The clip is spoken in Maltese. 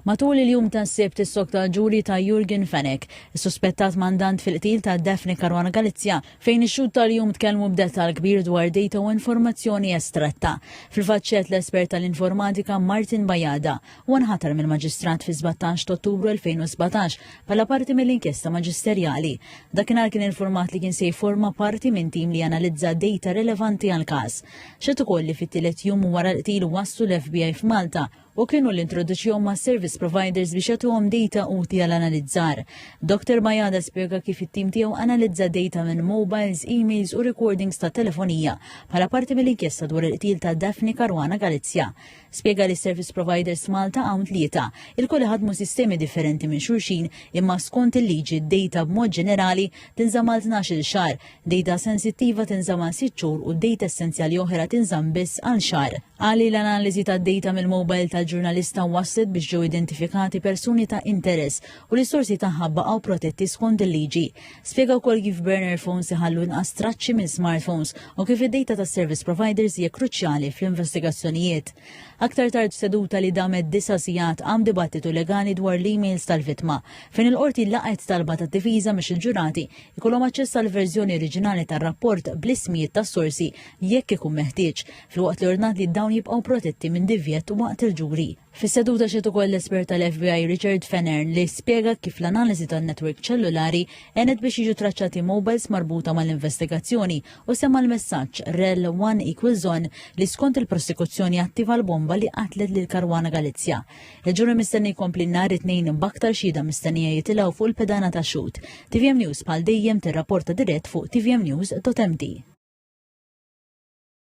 Matul il-jum tas-Sibt issokta l-ġuri ta' Yorgen Fenech, is-suspettat mandant fil-qtil ta' Daphne Caruana Galizia, fejn ix-xhud tal-jum tkellmu b'dettall kbir dwar dejta u informazzjoni estratta. Fil-fatt xehed l-espert tal-informatika Martin Bajada. Huwa nħatar mill-Maġistrat fis-sbattax t'Ottubru 2017 bħala parti mill-inkjesta maġisterjali. Dakinhar kien infurmat li kien se jifforma parti minn tim li janalizza dejta relevanti għall-każ. Xehed ukoll li fit-tielet jum wara l-qtil waslu l-FBI f'Malta u kienu li introduċihom ma' service providers biex jagħtuhom data uti għal analizzar. Dr. Bajada spjega kif it-tim tiegħu analizza data minn mobiles, emails u recordings ta' telefonija bħala parti mill-inkjesta dwar il-qtil ta' Daphne Caruana Galizja. Spjega li service providers Malta hawn tlieta, il-kol ħadmu sistemi differenti minn xulxin imma skont il-liġi d-data b'mod ġenerali tinżamal 12 xahar Dejta sensittiva tinżamm għal sitt xhur u dejta essenzjali oħra tinżamm biss għal xahar. Qal li l-analiżi tad-dejta mill-mowbajl tal-ġurnalista wasslet biex ġew identifikati persuni ta' interess u li s-sorsi tagħha baqgħu protetti skond il-liġi. Spjega wkoll kif burner phones iħallu inqas traċċi minn smartphones u kif id-dejta tas-service providers hija kruċjali fl-investigazzjonijiet. Aktar tard f'seduta li damet disa' sigħat qam dibattitu legali dwar l-emails tal-vittma, fejn il-Qorti laqgħet talba tad-difiża biex il-ġurati jkollhom aċċess għal verżjoni oriġinali tar-rapport bl-ismijiet tas-sorsi jekk ikun meħtieġ, filwaqt li ordnat li dawn jibqgħu protetti minn divjett waqt il-ġuri. Fis-seduta xed ukoll l-espert tal-FBI Richard Fenner li spjega kif l-analiżi tan-netwerk ċellulari għenet biex jiġu traċċati mobiles marbuta mal-investigazzjoni u semma l-messaġġ rel 1 equals on li skont il-prosekuzzjoni attiva l-bomba li qatlet lil Karwana Galizja. Il-ġuri mistenni jkompli nhar it-tnejn b'aktar xhieda mistennija jitilgħu fuq il-pedana ta' xhud. TVM News bħal dejjem tirrapporta dirett fuq tvmnews.md.